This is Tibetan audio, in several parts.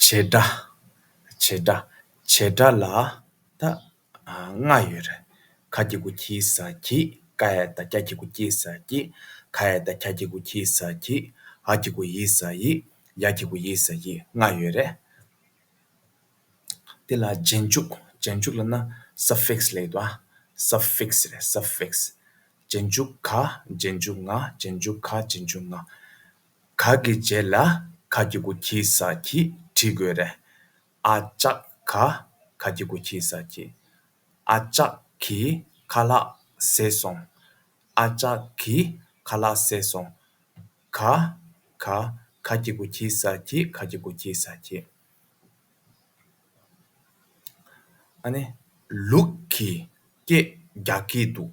བྱེད་སྒྲ། བྱེད་སྒྲ། བྱེད་སྒྲ་ལ་ད་ལྔ་ཡོད་རེད། ཁ་སྐྱེ་དགུ་སྐྱེ་ས་སྐྱེ། ཀ་ཡ་ད་སྐྱ་སྐྱེ་དགུ་སྐྱེ་ས་སྐྱེ། ཁ་ཡ་ད་ཁྱ་སྐྱེ་དགུ་ཁྱེ་ས་སྐྱེ། ཧ་སྐྱེ་དགུ་ཧི་ས་ཧི། ཡ་སྐྱེ་དགུ་ཡེ་ས་ཡེ་ལྔ་ཡོད་རེད། དེ་ལ་རྗེས་འཇུག། རྗེས་འཇུག་ལ་ན suffix ལེགས་འདུག་ཨ། suffix རེད suffix། རྗེས་འཇུག་ག། རྗེས་འཇུག་ང། རྗེས་འཇུག་ག། རྗེས་འཇུག་ང། ག་གི་རྗེས་ལ་ག་གི་གུ་གྱི་ས་གྱིས་བྲིས་དགོས་རེད། ཨ་ཅག་ག་ག་གི་གུ་གྱི་ས་གྱིས། ཨ་ཅག་གིས་ཁ་ལག་བཟས་སོང། ཨ་ཅག་གིས་ཁ་ལག་བཟས་སོང། ག་ག་ག་གི་གུ་གྱི་ས་གྱིས་ག་གི་གུ་གྱི་ས་གྱིས། ཨ་ནི་ལུག་གིས་སྐད་རྒྱག་གི་འདུག།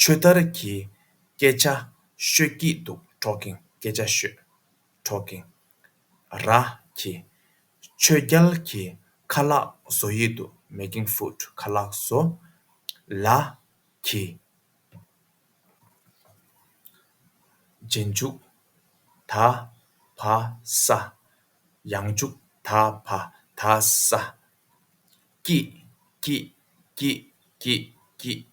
ཆོས་དར་གྱིས་སྐད་ཆ་ཤོད་ཀྱི་འདུག་གྲོགས་གིང་སྐད་ཆ་ཤོད། གྲོགས་གིང། ར། གྱིས། ཆོས་རྒྱལ་གྱིས་ཁ་ལག་བཟོ་ཡི་འདུག making food ཁ་ལག་བཟོ། ལ། གྱིས། རྗེས་འཇུག། ད། བ། ས། ཡང་འཇུག་ད། བ། ད། ས། ཀྱིས། ཀྱིས། ཀྱིས། ཀྱིས། ཀྱིས།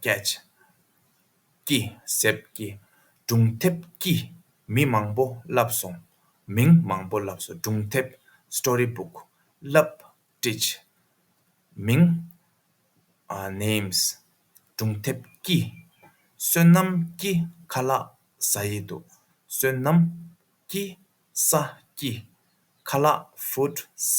སྐྱེད། ཀྱི་གཟེབ་ཀྱི་སྒྲུང་དེབ་ཀྱིས་མི་མང་པོ་བསླབས་སོང། མིང་མང་པོ་བསླབས་སོང་སྒྲུང་དེབ། Story Book། བསླབས། བཀྲིས། མིང། Names། སྒྲུང་དེབ་ཀྱིས། བསོད་ནམས་ཀྱི་ཁ་ལག་ཟ་ཡི་འདུག་བསོད་ནམས། ཀྱི། ས། ཀྱི། ཁ་ལག། Food། ཟ།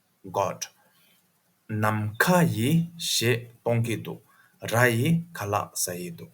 God། ནམ་མཁའ་ཡི་ཞེས་སྟོང་གི་འདུག། ར་ཡི་ཁ་ལག་ཟ་ཡི་འདུག།